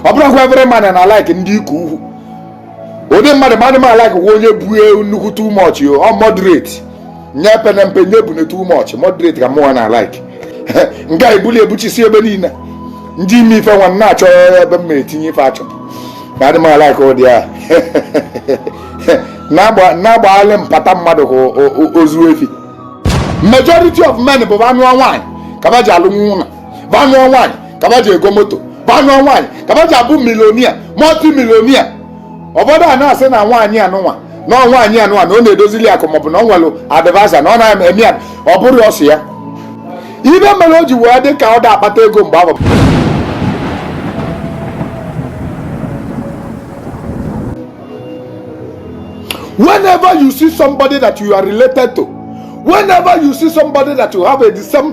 ọ bụrọ kwa every man na alike ndị ike ukwu ụdị mmadụ m adị m alike kwa onye bue nnukwu too much ọ moderate nya pene mpe nya bune too much moderate ka mụnwa na alike nke a ebuli ebuchisi ebe niile ndị ime ife nwa na-achọ ebe m etinye ife achọ na adị m alike ụdị a na-agbaghalị mpata mmadụ ka ozu efi majority of men ba nụọ nwaanyị ka ba ji alụ nwa ụnọ ba nụọ nwaanyị ka ba ji ego moto ba nụọ nwaanyị ka ba ji abụ millionaire multi millionaire ọ bụ ụdị a na-asị na nwaanyị anụnwa na ọ nwaanyị anụnwa na ọ na-edozili akụ maọbụ na o nwere advice na ọ na-eme ya ọ bụrọ sọ ya ibe mere o ji wee dị ka ọ da akpata ego mgbe ahụ whenever you see somebody that you are related to whenever you see somebody that you have a the same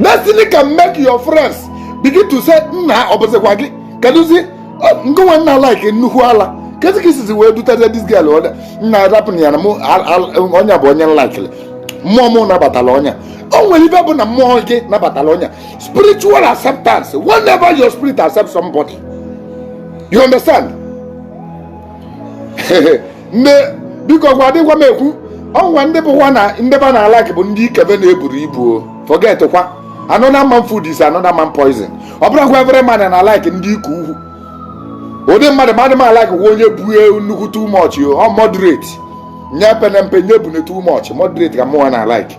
destiny can make your friends begin to say nna ọ bụzikwa gị kedụzi ngị nwa na alike nnukwu ala kedu ka i sizi wee dutete this girl ọda nna rapụ ya na mụ onye a bụ onye m likịrị mmụọ mụ nabatara onye a o nwere ibe bụ na mmụọ gị nabatara onye a spiritual acceptance whenever your spirit accepts somebody you understand nne biko gwa dịgwa m ekwu o nwe ndị bụkwa na ndị ba na-alike bụ ndị ikebe na-eburu ibu o forget kwa another man food is another man poison ọ bụrọ kwa every man na alike ndị ike ukwu ụdị mmadụ m adị m alike kwa onye bue nnukwu too much ọ moderate nya pene mpe nya bune too much moderate ka mụnwa na alike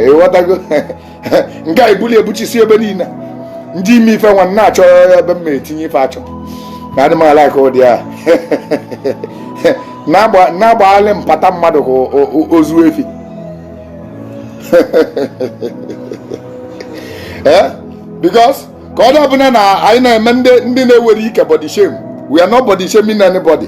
ị ghọtago nke a ebuli ebuchisi ebe niile ndị ime ife nwa na-achọ ebe m etinye ife achọ na adị m alike ụdị a na-agbaghalị mpata mmadụ ka ozu efi eh? because ka ọ da abụna na anyị na-eme ndị nwere ike body shame we are not body shaming anybody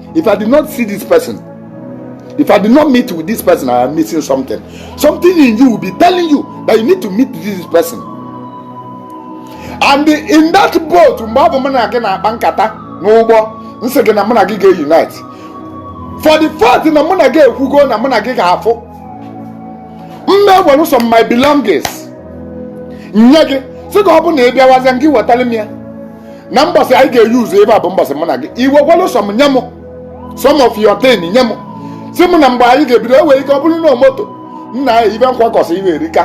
if i did not see this person if i did not meet with this person i am missing something something in you will be telling you that you need to meet this person and in that boat mgbe ọ bụ mụ na gị na-akpa nkata n'ụgbọ m sị gị na mụ na gị ga-unite for the fact na mụ na gị ekwugo na mụ na gị ga-afụ m ewere some my belongings nye gị sị gị ọ bụ na ị bịawazie gị wetara m ya na mbọsị anyị ga-eyuzu ebe a bụ mbọsị mụ na gị iwe gwalụ some nye m some of your ten nye m sị m na mgbe anyị ga-ebido e nwere ike ọ bụrụ na moto nna ya ibe m kwakọsịrị erika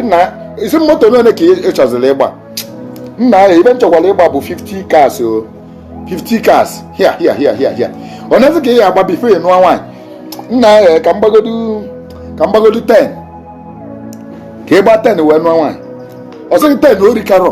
nna ya ị sị moto n'one ka ị chọziri ịgba nna ya ibe m chọkwara ịgba bụ 50 cars o 50 cars hia hia hia hia hia onezi ka ị ya agba before ị nụọ nwaanyị nna ya ka m gbagodu ka m gbagodu 10 ka ị gbaa 10 wee nụọ nwaanyị ọ sị gị 10 o rikarọ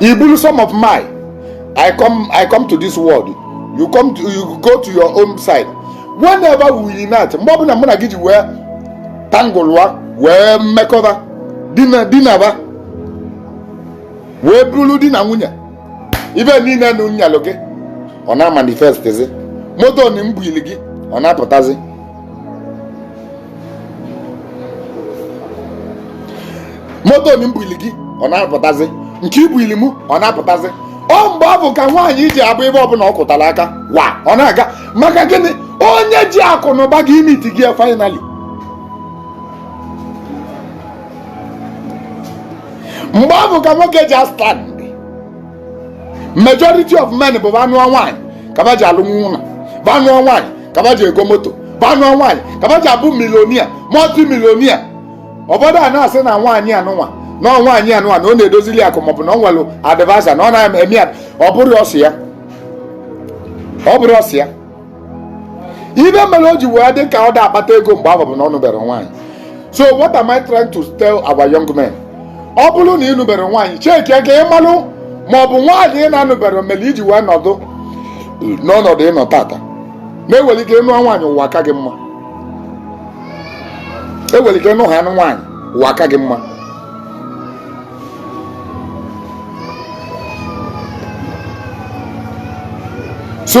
i buru some of mine i come i come to this world you come to you go to your own side whenever we unite mgbe ọbụla mụ na gị ji wee tangụlụa wee mekọba dinaba wee bụrụ di na nwunye ibe niile na m nyelụ gị ọ na-amanifestizi moto na m buili gị ọ na-apụtazi moto m buili gị ọ na-apụtazi nke i buili m ọ na-apụtazi ọ mgbe ọ bụ ka nwaanyị ji abụ ebe ọbụla ọ kụtara aka wa ọ na-aga maka gịnị onye ji akụ na ụba gị imiti gị finally mgbe ọ bụ ka nwoke ji astand majority of men bụ anụọ nwaanyị ka ba ji alụnwu ụnọ ba nụọ nwaanyị ka ba ji ego moto ba nụọ nwaanyị ka ba ji abụ millionaire multi millionaire obodo a na-asị na nwaanyị anụnwa na ọ nwaanyị anụnwa na ọ na-edozili akụ maọbụ na o nwere adviser na ọ na-eme ya ọ bụrọsị ya ọ bụrọsị ya ibe mere o ji wee dị ka ọ da akpata ego mgbe ahụ bụ na ọ nụbere nwaanyị so what am I trying to tell our young men ọ bụrụ na ị nụbere nwaanyị cheki ka ị malụ ma ọ bụ nwaanyị ị na-anụbere mere i ji wee nọdụ n'ọnọdụ ị nọ tata na e nwere ike ịnụ nwaanyị ụwa aka gị mma e nwere ike ịnụ ha anụ nwaanyị ụwa aka gị mma so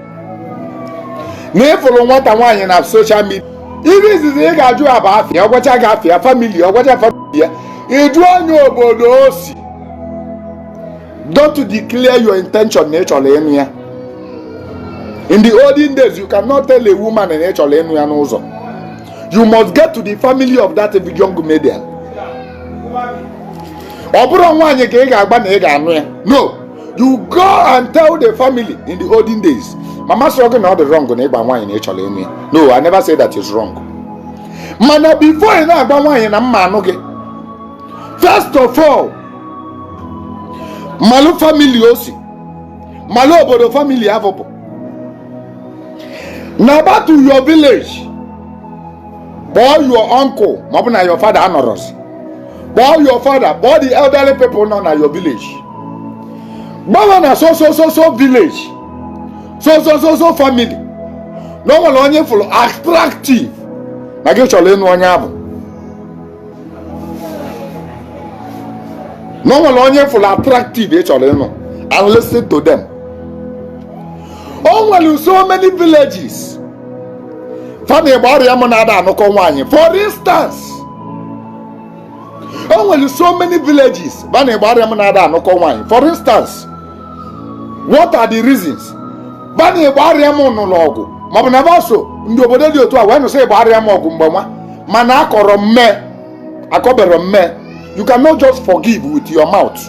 na ị fụrụ nwata nwaanyị na social media ibe izizi ị ga-ajụ ya bụ afa ya ọ gwacha gị afa ya family ọ gwacha family ya ị jụọ nya obodo o si don't declare your intention na ị chọrọ ịnụ ya in the olden days you cannot tell a woman na ị chọrọ ịnụ ya n'ụzọ you must get to the family of that young maiden ọ bụrọ nwaanyị ka ị ga-agwa na ị ga-anụ ya no you go and tell the family in the olden days ma m asịrọ gị na ọ dị wrong na ịgwa nwaanyị na ị chọrọ ịnụ ya no i never say that is wrong mana before ị na-agwa nwaanyị na m ma-anụ gị first of all malụ family o si malụ obodo family afụ pụọ naa back to your village kpọọ your uncle maọbụ na your father anọrọzi kpọọ your father kpọọ the elderly people nọ na your village gwa ba na so so so so village so so so so family na ọ nwere onye ị fụrụ attractive na gị chọrọ ịnụ onye abụ na ọ nwere onye ị fụrụ attractive ị chọrọ ịnụ and listen to them o nwere so many villages ba na igbariam na-ada anụkọ nwaanyị for instance o nwere so many villages ba na igbariam na-ada anụkọ nwaanyị for instance what are the reasons ba na igbariam nụlụ ọgụ maọbụ na ba so ndị obodo dị otu a wee nụso igbariam ọgụ mgbe nwa mana akọrọ mme akọberọ mme you cannot just forgive with your mouth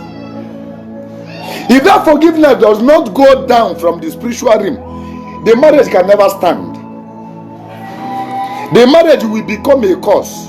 if that forgiveness does not go down from the spiritual realm the marriage can never stand the marriage will become a curse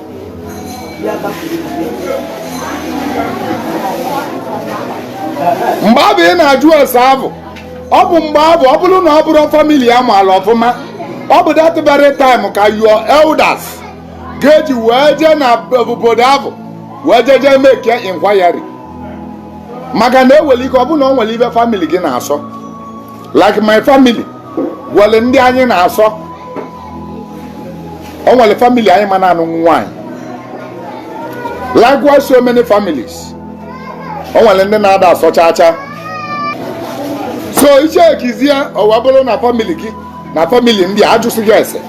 mgbe abụ ị na-ajụ ese abụ ọ bụ mgbe abụ ọ bụrụ na ọ bụrụ family a maala ọfụma ọ bụ that very time ka your elders ga-eji wee jee na obodo abụ wee jee jee make inquiry maka na e nwere ike ọ bụ na ọ nwere ibe family gị na-asọ like my family nwere ndị anyị na-asọ o nwere family anyị ma na-anụ nwaanyị likewise so many families o nwere ndị na-ada asọ chaa chaa so i checkizie o wee bụrụ na family gị na family ndị a ajụsị gị ese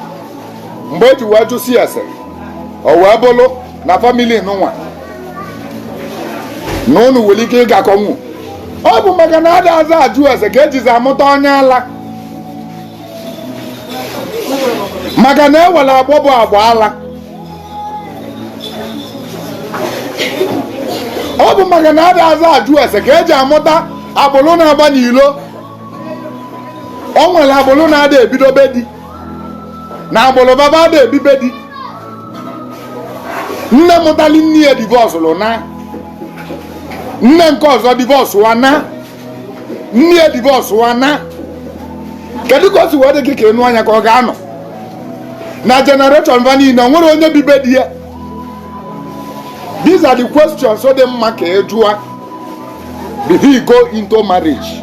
mgbe e ji wee jụsịa ese o wee bụrụ na family nụnwa na ụnụ nwere ike ịgakọnwu ọ bụ maka na adazị ajụ ese ka e jizi amụta onye ala maka na e nwere agbọ bụ agbọ ala ọ bụ maka na adazị ajụ ese ka e ji amụta agbụrụ na-agba n'ilo o nwere agbụrụ na-ada ebido be di na agbụrụ be ba ada ebi be di nne mụtalụ nne ya divorcerụ na nne nke ọzọ divorce wa na nne ya divorce wa na kedu ka o si wee dị gị ka ị nụa nya ka ọ ga-anọ na generation va niile o nwerọ onye bi be di ya these are the questions ọ dị mma ka ị jụa before you go into marriage